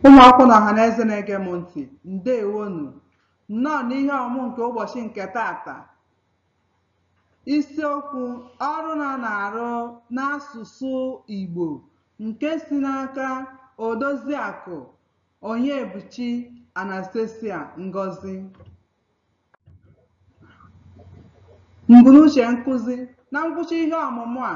Ụmụ akwụkwọ na ọhaneze na-ege m ntị, ndewonu. Nnọọ n'ihe ọmụmụ nke ụbọchị nke taata. Isiokwu ọrụ na na-arụ n'asụsụ Igbo nke si n'aka Odoziakụ Onyebuchi Anastasia Ngozi. Mbunuche nkuzi na ngwụcha ihe ọmụmụ a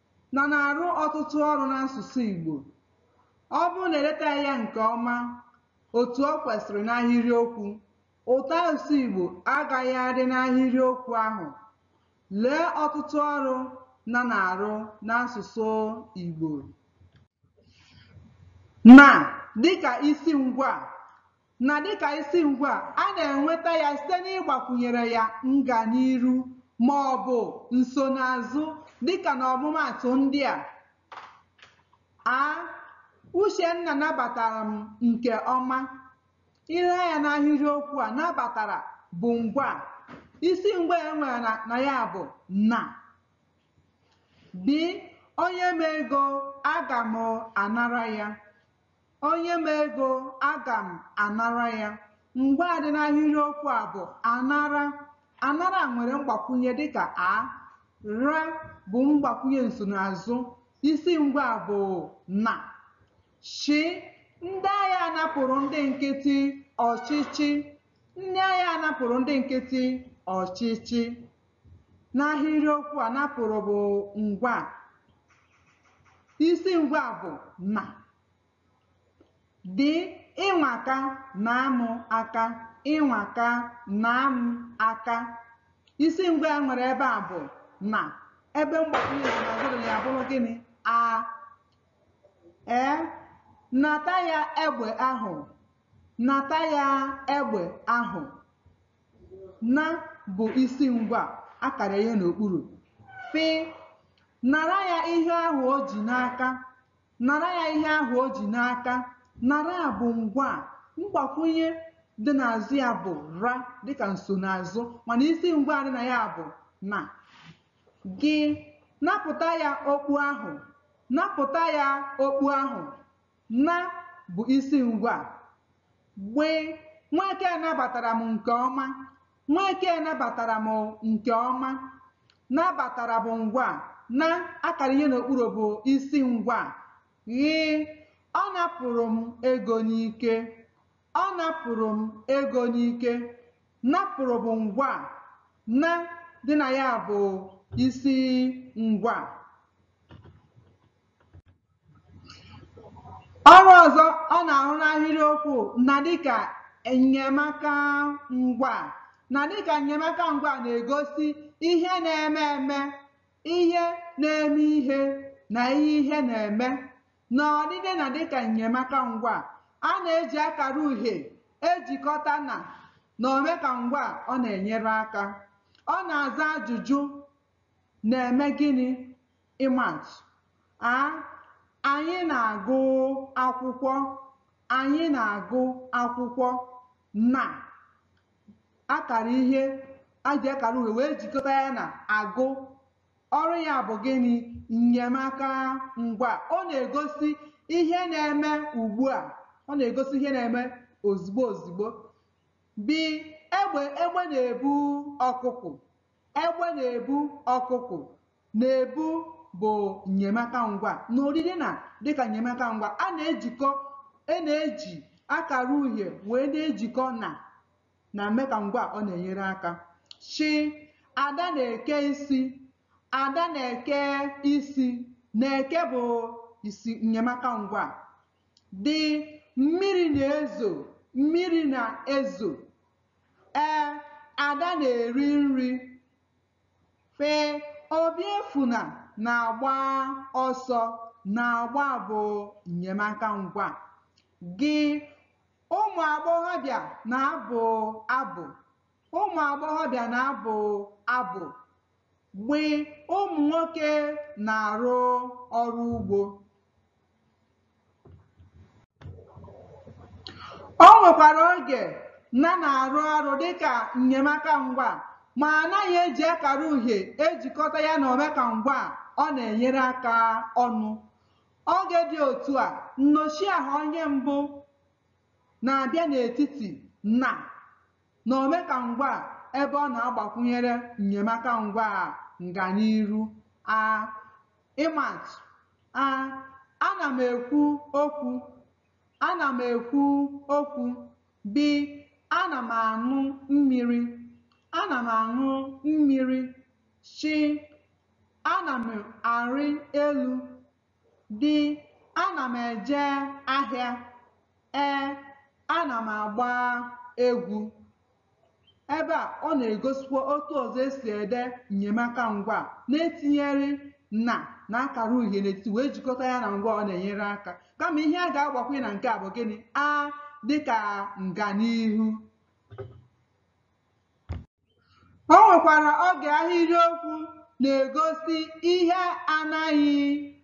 na na-arụ ọtụtụ ọrụ n'asụsụ Igbo. Ọ bụrụ na e letaghị ya nke ọma otu o kwesịrị n'ahịrịokwu, ụtọasụsụ Igbo agaghị adị n'ahịrịokwu ahụ. Lee ọtụtụ ọrụ na na-arụ n'asụsụ Igbo. Na dịka isi ngwaa, Na dịka isi ngwaa, a na-enweta ya site n'ịgbakwunyere ya nganiiru ma ọ bụ nsonaazụ dịka n'ọmụmaatụ ndị a, a Uchenna nabatara m nke ọma. I lee anya n'ahịrịokwu a, nabatara bụ ngwaa. Isi ngwaa e nwere na ya bụ na. B, O nye m ego, aga m anara ya. O nye m ego, aga m anara ya. Ngwaa dị n'ahịrịokwu a bụ anara. Anara nwere mgbakwunye dịka a. Ra bụ mgbakwunye nsonaazụ. Isi ngwaa bụ na. Chị, ndị agha napụrụ ndị nkịtị ọchịchị. Ndị agha napụrụ ndị nkịtị ọchịchị. N'ahịrịokwu a napụrụ bụ ngwaa. Isi ngwaa bụ na. Dị, ị nwaka, naa m aka, ị nwaka, naa m aka. Isi ngwaa e nwere ebe a bụ na. Ebe mgbakwunye nsonaazụ ya bụrụ gịnị? A. Ee, nata ya egbe ahụ. Nata ya egbe ahụ. Na bụ isi ngwaa a kara ihe n'okpuru. Fị, Nara ya ihe ahụ o ji n'aka. Nara ya ihe ahụ o ji n'aka. Nara bụ ngwaa, mgbakwunye dị n'azụ ya bụ ra dịka nsonaazụ mana isi ngwaa dị na ya bụ na. Gị, Napụta ya okpu ahụ. Napụta ya okpu ahụ. Na bụ isi ngwaa. Gbịị, Nweke nabatara m nke ọma. Nweke nabatara m nke ọma. Nabatara bụ ngwaa. Na a kara ihe n'okpuru bụ isi ngwaa. Ghịị, Ọ napụrụ m ego n'ike. Ọ napụrụ m ego n'ike. Napụrụ bụ ngwaa. Na dị na ya bụ isi ngwaa. Ọrụ ọzọ ọ na-arụ n'ahịrịokwu na dịka nnyemaka ngwa na dịka nnyemaka ngwa na-egosi ihe na-eme eme, ihe na-eme ihe na ihe na-eme. N'odide na dịka nnyemaka ngwa, a na-eji akara uhie ejikọta na na omeka ngwa ọ na-enyere aka. Ọ na-aza ajụjụ Na-eme gịnị? Ịma atụ, A, Anyị na-agụ akwụkwọ. Anyị na-agụ akwụkwọ. Na, Akara ihe a ji akara uhie wee jikọta ya na agụ. Ọrụ ya bụ gịnị? Nnyemaka ngwa. Ọ na-egosi ihe na-eme ugbu a. Ọ na-egosi ihe na-eme ozugbo ozugbo. B, Egbe egbe na-ebu ọkụkụ. Egbe na-ebu ọkụkụ na-ebu bụ nnyemaka ngwa n'odide na dịka nnyemaka ngwa a na-ejikọ a na-eji akara uhie wee na-ejikọ na na mmeka ngwa ọ na-enyere aka Ch ada na-eke isi ada na-eke isi na-eke bụ isi nnyemaka ngwa D mmiri na-ezo mmiri na-ezo E, Ada na-eri nri. F, Obiefuna na-agba ọsọ. Na-agba bụ nnyemaka ngwa. G, Ụmụ agbọghọbịa na-abụ abụ. Ụmụ agbọghọbịa na-abụ abụ. Gb, Ụmụ nwoke na-arụ ọrụ ugbo. o nwekwara oge na na-arụ ọrụ dịka nnyemaka ngwa ma anaghị eji akara uhie ejikọta ya na omeka ngwa ọ na-enyere aka ọnụ oge dị otu a nnọchiaha onye mbụ na-abịa n'etiti na na omeka ngwa ebe ọ na-agbakwunyere nnyemaka ngwa a nganiru a Ịma atụ, a Ana m ekwu okwu. Ana m ekwu okwu. B Ana m aṅụ mmiri. Ana m aṅụ mmiri. Ch Ana m arị elu. D Ana m eje ahịa. E Ana m agba egwu. Ebe a, ọ na-egosikwa otu ọzọ e si ede nnyemaka ngwaa na-etinyere na na akara uhie n'etiti wee jikọta ya na ngwaa ọ na-enyere aka. Kama ihe a ga-agbakwụnye na nke a bụ gịnị? A dịka nganihu. O nwekwara oge ahịrịokwu na-egosi ihe anaghị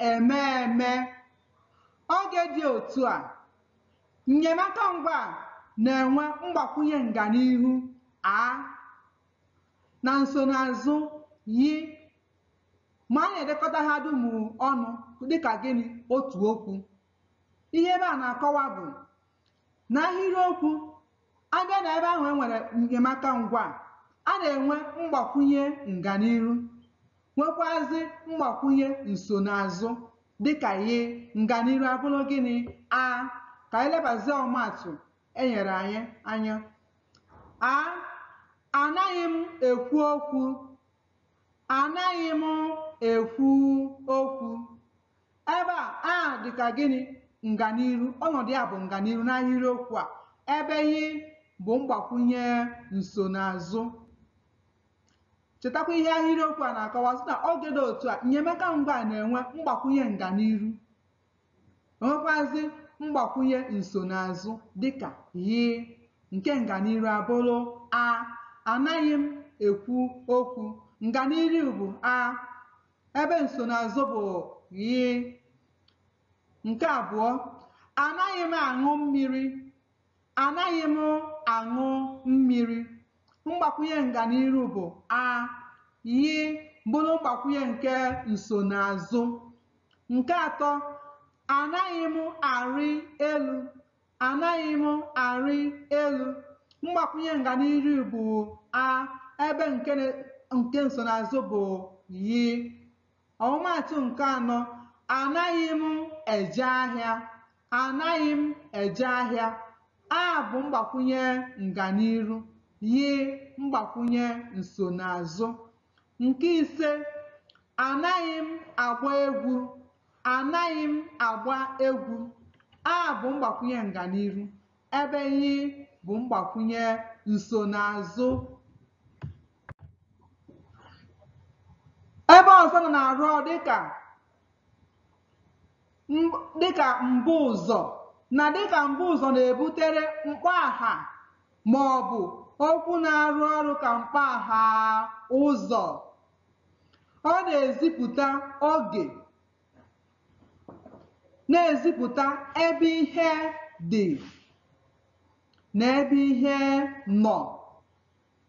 eme eme. Oge dị otu a Nnyemaka ngwaa na-enwe mgbakwunye nganihu a na nsonaazụ ghị ma a na-edekọta ha dum ọnụ dịka gịnị otu okwu. Ihe ebe a na-akọwa bụ na ahịrịokwu a bịa na ebe ahụ e nwere enyemaka ngwaa, a na-enwe mgbakwunye nganiru nwekwazị mgbakwunye nsonaazụ dịka ghị nganiru abụrụ gịnị a ka anyị lebazie ọmaatụ e nyere anyị anya a anaghị m ekwu okwu anaghị m ekwu okwu ebe a a dịka gịnị nganiru ọnọdụ ya bụ nganiru n'ahịrịokwu a ebe ghị bụ mgbakwunye nsonaazụ chetakwa ihe ahịrịokwu a na-akọwa sị na oge dị otu a enyemaka ngwaa na-enwe mgbakwunye nganiru enwekwazi mgbakwunye nsonaazụ dịka ghị nke nganiru abụrụ a anaghị m ekwu okwu nganiru bụ a ebe nsonaazụ bụ ghị nke abụọ anaghị m aṅụ mmiri anaghị m aṅụ mmiri mgbakwunye nganiru bụ a ghị bụrụ mgbakwunye nke nsonaazụ nke atọ anaghị m arị elu Anaghị m arị elu. Mgbakwụnye nganiru bụ a ebe nke nsonaazụ bụ ghị. Ọmụmaatụ nke anọ, Anaghị m eje ahịa. Anaghị m eje ahịa. A bụ mgbakwụnye nganiru, ghị mgbakwụnye nsonaazụ. Nke ise, Anaghị m agba egwu. Anaghị m agba egwu. A bụ mgbakwunye nganiru ebe ghị bụ mgbakwunye nsonaazụ. Ebe ọzọ na na-arụ ọrụ dịka m- dịka mbuụzọ na dịka mbuụzọ na-ebutere mkpọaha ma ọ bụ okwu na-arụ ọrụ ka mkpọaha ụzọ Ọ na-ezipụta oge, na-ezipụta ebe ihe dị na ebe ihe nọ.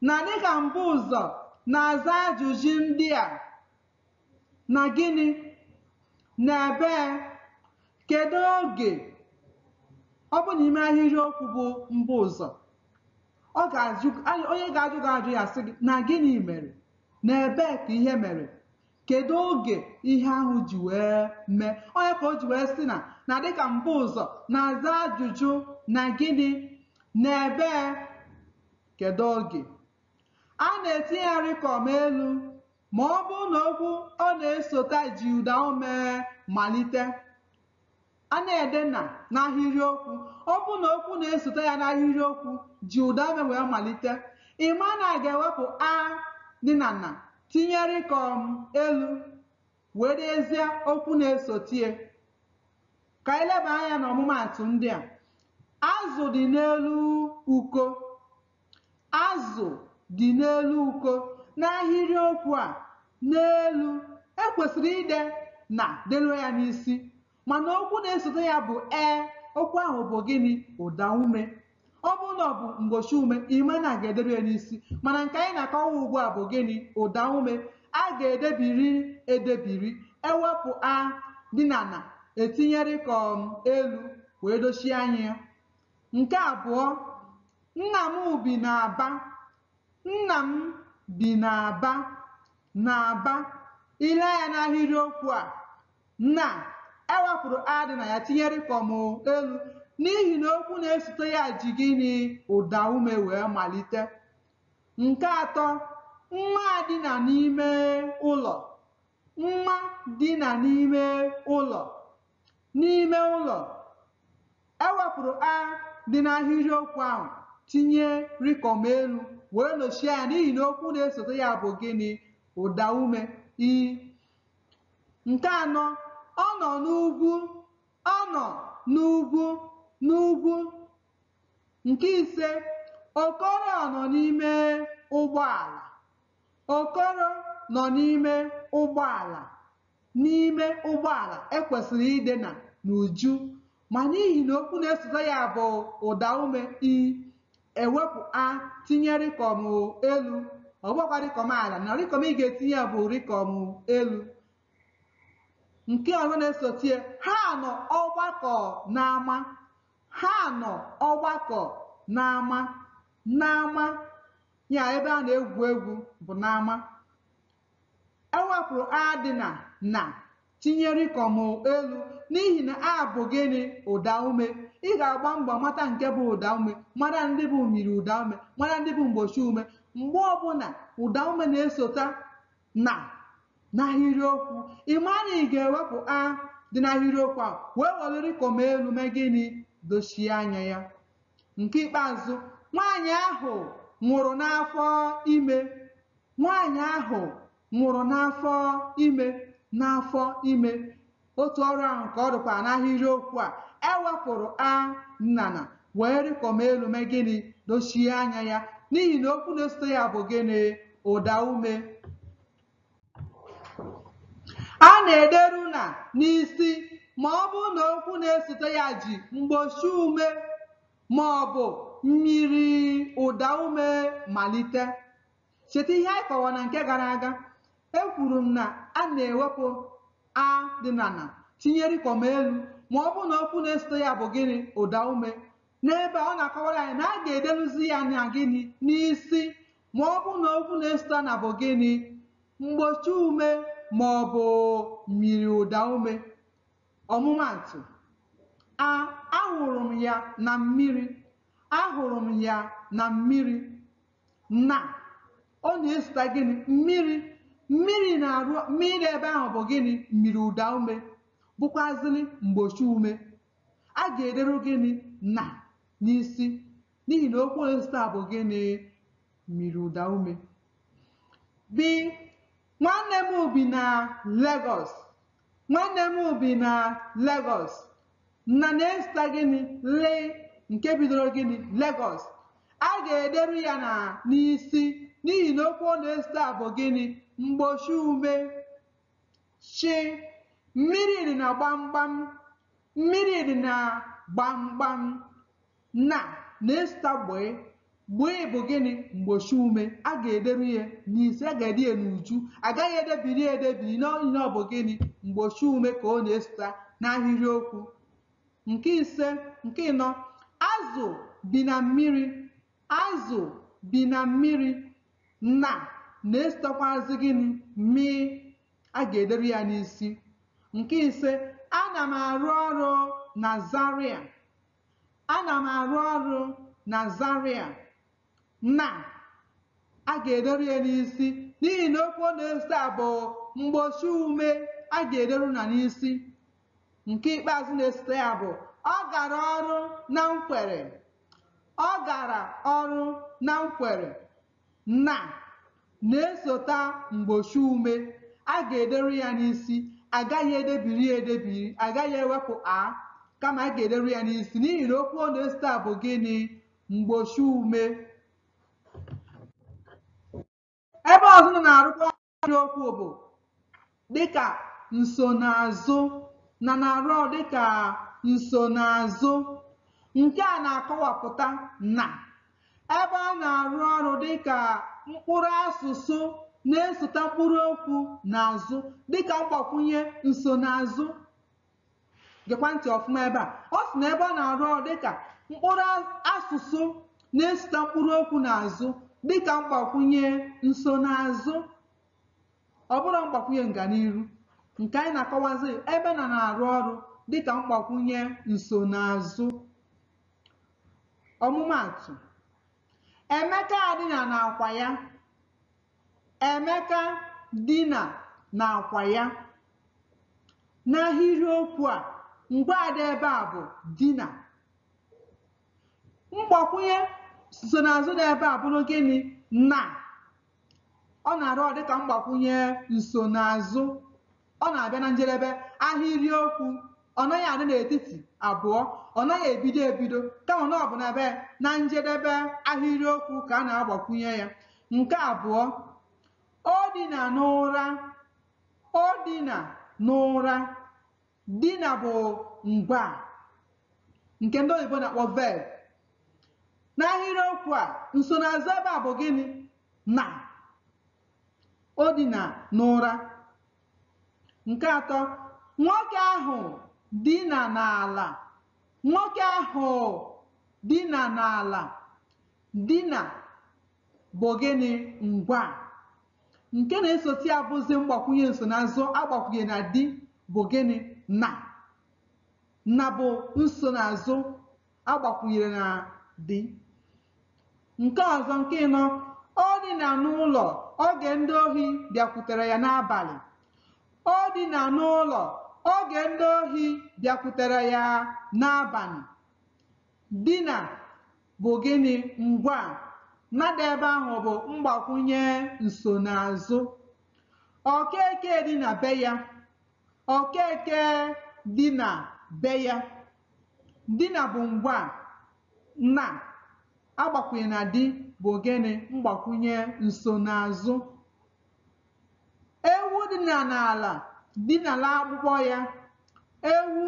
Na dịka mbuụzọ na-aza ajụjụ ndị a na gịnị na ebee kedu oge ọ bụ n'ime ahịrịokwu bụ mbuụzọ ọ ga-ajụ onye ga-ajụ gị ajụ ya sị gị na gịnị mere na ebee ka ihe mere kedu oge ihe ahụ ji wee mee onye ka o ji wee sị na na dịka mbuụzọ na-aza ajụjụ na gịnị na ebee kedu oge a na-etinye ya rịkọm elu ma ọ bụrụ na okwu ọ na-esota ji ụdaume malite A na-ede na n'ahịrịokwu. Ọ bụrụ na okwu na-esote ya n'ahịrịokwu ji ụdaume wee malite, ị ma na a ga-ewepụ a dị na na tinye rịkọm elu wee dezie okwu na-esote ya. Ka anyị leba anya n'ọmụmaatụ ndị a. Azụ dị n'elu uko. Azụ dị n'elu uko. N'ahịrịokwu a, n'elu, e kwesịrị ide na deluo ya n'isi mana okwu na-esote ya bụ e. Okwu ahụ bụ gịnị? Ụdaume. Ọ bụrụ na ọ bụ mgbochi ume, ị ma na a ga-ederu ya n'isi mana nke anyị na-akọwa ugbu a bụ gịnị? Ụdaume. A ga-edebiri edebiri, e wepụ a dị na na, e tinye rịkọm elu wee dochie anya ya. Nke abụọ, Nna m bi n'Aba. Nna m bi n'Aba. N'Aba. I lee anya n'ahịrịokwu a, na e wepụrụ a dị na ya tinye rịkọm elu n'ihi na okwu na-esote ya ji gịnị ụdaume wee malite. Nke atọ, Nwa dina n'ime ụlọ. Nwa dina n'ime ụlọ. N'ime ụlọ. E wepụrụ a dị n'ahịrịokwu ahụ tinye rịkọm elu wee nochie ya n'ihi na okwu na-esote ya bụ gịnị? Ụdaume i. Nke anọ, ọ nọ n'ugwu, ọ nọ n'ugwu, n'ugwu. Nke ise, Okoro ọ nọ n'ime ụgbọala? Okoro nọ n'ime ụgbọala. N'ime ụgbọala, e kwesịrị ide na n'uju, ma n'ihi na okwu na-esote ya bụ ụdaume i, e wepụ a, tinye rịkọm elu, ọ bụkwa rịkọm ala, na rịkọm ị ga-etinye ya bụ rịkọm elu. Nke ọzọ na-esote ya, ha nọ ọgbakọ n'ama, ha nọ ọgbakọ n'ama, n'ama, ya ebe a na-egwu egwu bụ n'ama. Ewepụrụ a dị na na tinye rịkọm elu n'ihi na a bụ gịnị ụda ume. Ị ga-agba mbọ mata nke bụ ụda ume, mara ndị bụ myiri ụda ume, mara ndị bụ mgbochi ume. Mgbe ọbụla ụda ume na-esota na n'ahịrịokwu, ị maa na ị ga-ewepụ a dị n'ahịrịokwu a wee welụ rịkọm elu mee gịnị dochie anya ya. Nke ikpeazụ, nwaanyị ahụ nwụrụ n'afọ ime. Nwaanyị ahụ nwụrụ n'afọ ime n'afọ ime otu ọrụ ahụ ka ọ dịkwa n'ahịrịokwu a e wepụrụ a na na wee rịkọm elu mee gịnị dochie anya ya n'ihi na okwu na-esote ya bụ gịnị ụda ume a na-ederu na n'isi ma ọ bụrụ na okwu na-esote ya ji mgbochi ume ma ọ bụ myiri ụda ume malite Cheta ihe anyị kọwara na nke gara aga. Ekwuru m na a na-ewepụ a dị na na tinye rịkọm elu ma ọ bụrụ na okwu na-esote ya bụ gịnị ụda ume. N'ebe a ọ na-akọwara anyị na a ga-edeluzi ya na gịnị n'isi ma ọ bụrụ na okwu na-esote na bụ gịnị mgbochi ume ma ọ bụ myiri ụda ume. Ọmụmaatụ, a ahụrụ m ya na mmiri. Ahụrụ m ya na mmiri. na ọ na-esota gịnị mmiri mmiri na-arụ mmiri ebe ahụ bụ gịnị myiri ụda ume bụkwazịrị mgbochi ume a ga-ederu gịnị na n'isi n'ihi na okwu na-esota bụ gịnị myiri ụda ume bi nwanne m bi na Lagos Nwanne m bi na Lagos. Na na-esota gịnị? Lị nke bidoro gịnị? Lagos. A ga-ederu ya na n'isi n'ihi na okwu ọ na-esota bụ gịnị? Mgbochi ume. Chị. Mmiri dị na gbamgbam. Mmiri dị na gbamgbam. Na na-esota gbịị. Gbịị bụ gịnị? Mgbochi ume. A ga-ederu ya n'isi, a ga-ede ya n'uju. A gaghị edebiri ya edebiri n'ihi na ọ bụ gịnị? Mgbochi ume ka ọ na-esota n'ahịrịokwu. Nke ise, nke ịnọ, azụ bi na mmiri. Azụ bi na mmiri. Na na-esotakwazị gịnị? Mịị. A ga-ederu ya n'isi. Nke ise, ana m arụ ọrụ na Zaria. Ana m arụ ọrụ na Zaria na a ga-ederu ya n'isi n'ihi na okwu ọ na-esota bụ mgbochi ume a ga-ederu na n'isi. Nke ikpeazụ na-esote ya bụ ọ gara ọrụ na Nkwere. Ọ gara ọrụ na Nkwere. Na, na-esota mgbochi ume. A ga-ederu ya n'isi. A gaghị edebiri ya edebiri. A gaghị ewepụ a, kama a ga-ederu ya n'isi n'ihi na okwu ọ na-esota bụ gịnị? Mgbochi ume. Ebe ọzọ na na-arụkwa ahịrịokwu bụ dịka nsonaazụ na na-arụ ọrụ dịka nsonaazụ nke a na-akọwapụta na ebe a na-arụ ọrụ dịka mkpụrụ asụsụ na-esota mkpụrụ okwu n'azụ dịka mgbakwunye nsonaazụ gekwa ntị ọfụma ebe a ọ sị na ebe ọ na-arụ ọrụ dịka mkpụrụ asụsụ na-esote mkpụrụ okwu n'azụ dịka mgbakwunye nsonaazụ ọ bụrọ mgbakwunye nganiru nke anyị na-akọwazi ebe na na-arụ ọrụ dịka mgbakwunye nsonaazụ ọmụmaatụ emeka dina na akwa ya Emeka dina n'akwa ya. N'ahịrịokwu a, ngwaa dị ebe a bụ dina. Mgbakwunye nsonaazụ dị ebe a bụrụ gịnị? Na. Ọ na-arụ ọrụ dịka mgbakwunye nsonaazụ ọ na-abịa na njedebe ahịrịokwu ọ naghị adị n'etiti abụọ ọ naghị ebido ebido kama na ọ bụ na be na njedebe ahịrịokwu ka a na-agbakwunye ya nke abụọ o dina n'ụra o dina n'ụra dina bụ ngwaa nke ndị oyibo na-akpọ verb n'ahịrịokwu a nsonaazụ ebe a bụ gịnị na o dina n'ụra nke atọ nwoke ahụ dina n'ala nwoke ahụ dina n'ala dina bụ gịnị ngwaa nke na-esote ya bụzi mgbakwunye nsonaazụ a gbakwunye na di bụ gịnị na na bụ nsonaazụ a gbakwunyere na di nke ọzọ nke ịnọ o dina n'ụlọ oge ndị ohi bịakwutere ya n'abalị o dina n'ụlọ oge ndị ohi bịakwutere ya n'abalị dina bụ gịnị ngwaa na dị ebe ahụ bụ mgbakwunye nsonaazụ okeke dina be ya okeke dina be ya Dina bụ ngwaa na agbakwunye na di bụ gịnị mgbakwunye nsonaazụ. Ewu dina n'ala dinala akpụkpọ ya. Ewu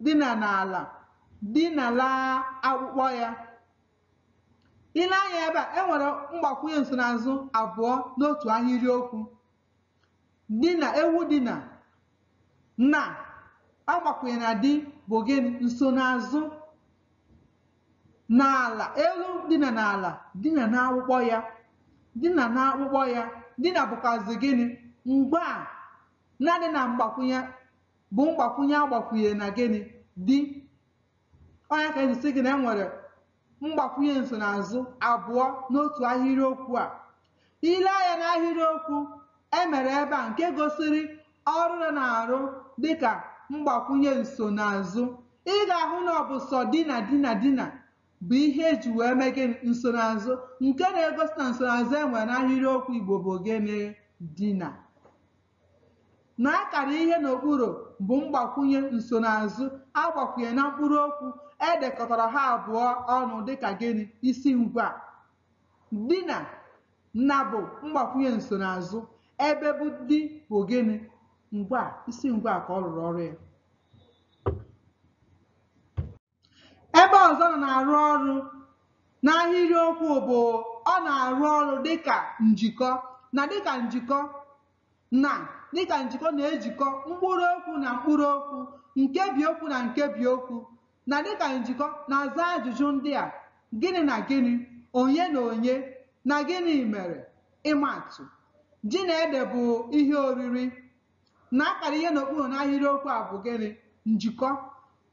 dina n'ala dinala akpụkpọ ya. I lee anya ebe a, e nwere mgbakwunye nsonaazụ abụọ n'otu ahịrịokwu. dina ewu dina na agbakwunye na di bụ gịnị nsonaazụ n'ala ewu dina n'ala dina n'akpụkpọ ya dina n'akpụkpọ ya dina bụkwazi gịnị ngwaa na dị na mgbakwunye bụ mgbakwunye agbakwunye na gịnị di ọ ya ka eji sị gị na e nwere mgbakwunye nsonaazụ abụọ n'otu ahịrịokwu a i lee anya n'ahịrịokwu emere ebe a nke gosiri ọrụ na na-arụ dịka mgbakwunye nsonaazụ ị ga-ahụ na ọ bụ sọ dina dina dina bụ ihe eji wee mee gịnị nsonaazụ nke na-egosi na nsonaazụ e nwere n'ahịrịokwu Igbo bụ gịnị dina Na a kara ihe n'okpuru bụ mgbakwunye nsonaazụ a gbakwunye na mkpụrụ okwu e dekọtara ha abụọ ọnụ dị ka gịnị? Isi ngwaa. Dina, na bụ mgbakwunye nsonaazụ, ebe bụ di bụ gịnị? Ngwaa, isi ngwaa ka ọ rụrụ ọrụ ya. Ebe ọzọ na na-arụ ọrụ n'ahịrịokwu bụ ọ na-arụ ọrụ dịka njikọ na dịka njikọ na dịka njikọ na-ejikọ mkpụrụ okwu na mkpụrụ okwu nkebi okwu na nkebi okwu na dịka njikọ na-aza ajụjụ ndị a gịnị na gịnị onye na onye na gịnị mere ịma atụ ji na ede bụ ihe oriri na a kara ihe n'okpuru n'ahịrịokwu a bụ gịnị njikọ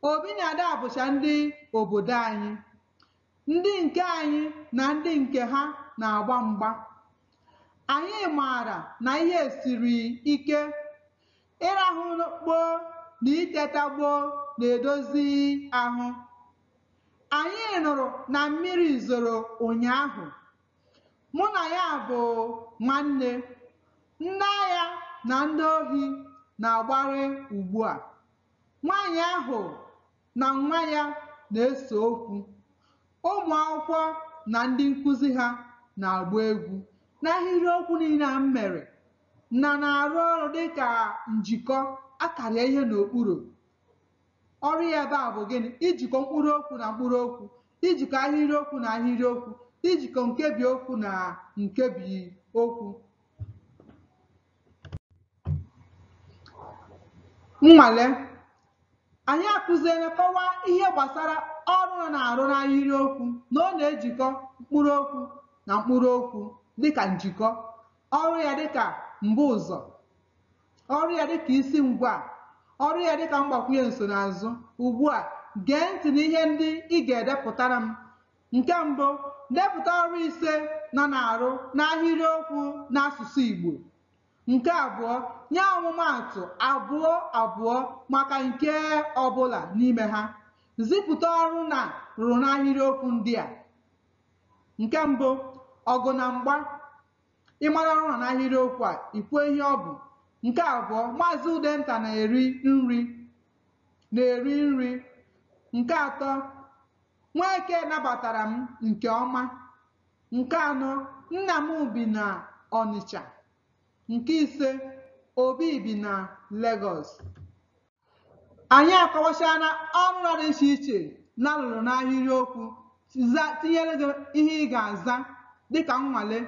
Obi na Ada bụcha ndị obodo anyị ndị nke anyị na ndị nke ha na-agba mgba anyị maara na ihe siri ike ịrahụ gboo na iteta gboo na-edozi ahụ anyị nụrụ na mmiri zoro ụnyaahụ Mụ na ya bụ nwanne. Ndị agha na ndị ohi na-agbarị ugbu a. Nwaanyị ahụ na nwa ya na-ese okwu. Ụmụ akwụkwọ na ndị nkụzi ha na-agba egwu. N'ahịrịokwu niile a m mere, na na-arụ ọrụ dịka njikọ a kara ihe n'okpuru. Ọrụ ya ebe a bụ gịnị? Ijikọ mkpụrụ okwu na mkpụrụ okwu. ijikọ ahịrịokwu na ahịrịokwu ijikọ nkebi okwu na nkebi okwu nnwale anyị akụziela kọwaa ihe gbasara ọrụ ọ na-arụ n'ahịrịokwu na ọ na-ejikọ mkpụrụ okwu na mkpụrụ okwu dịka njikọ ọrụ ya dịka mbuụzọ ọrụ ya dịka isi ngwaa ọrụ ya dịka mgbakwunye nsonaazụ ugbu a gee ntị n'ihe ndị ị ga-edepụtara m nke mbụ depụta ọrụ ise na na-arụ n'ahịrịokwu n'asụsụ Igbo nke abụọ nye ọmụmaatụ abụọ abụọ maka nke ọbụla n'ime ha zipụta ọrụ na rụrụ n'ahịrịokwu ndị a nke mbụ ọgụ na mgba ị mara ọrụ ya n'ahịrịokwu a i kwuo ihe ọ bụ nke abụọ maazị udenta na-eri nri na-eri nri nke atọ nweke nabatara m nke ọma nke anọ nna m bi na ọnịcha nke ise obi bi na Lagos anyị akọwachala ọrụ na dị iche iche na lụrụ n'ahịrịokwu tinyere gị ihe ị ga-aza dịka nnwale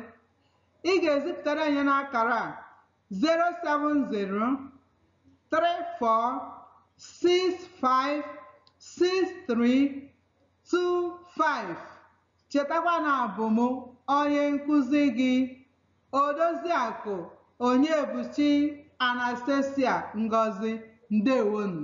ị ga-ezipụtara anyị n'akara a 07034656325 chetakwa na abụ m onye nkụzi gị Odoziakụ Onyebuchi Anastasia Ngozi, ndewonu.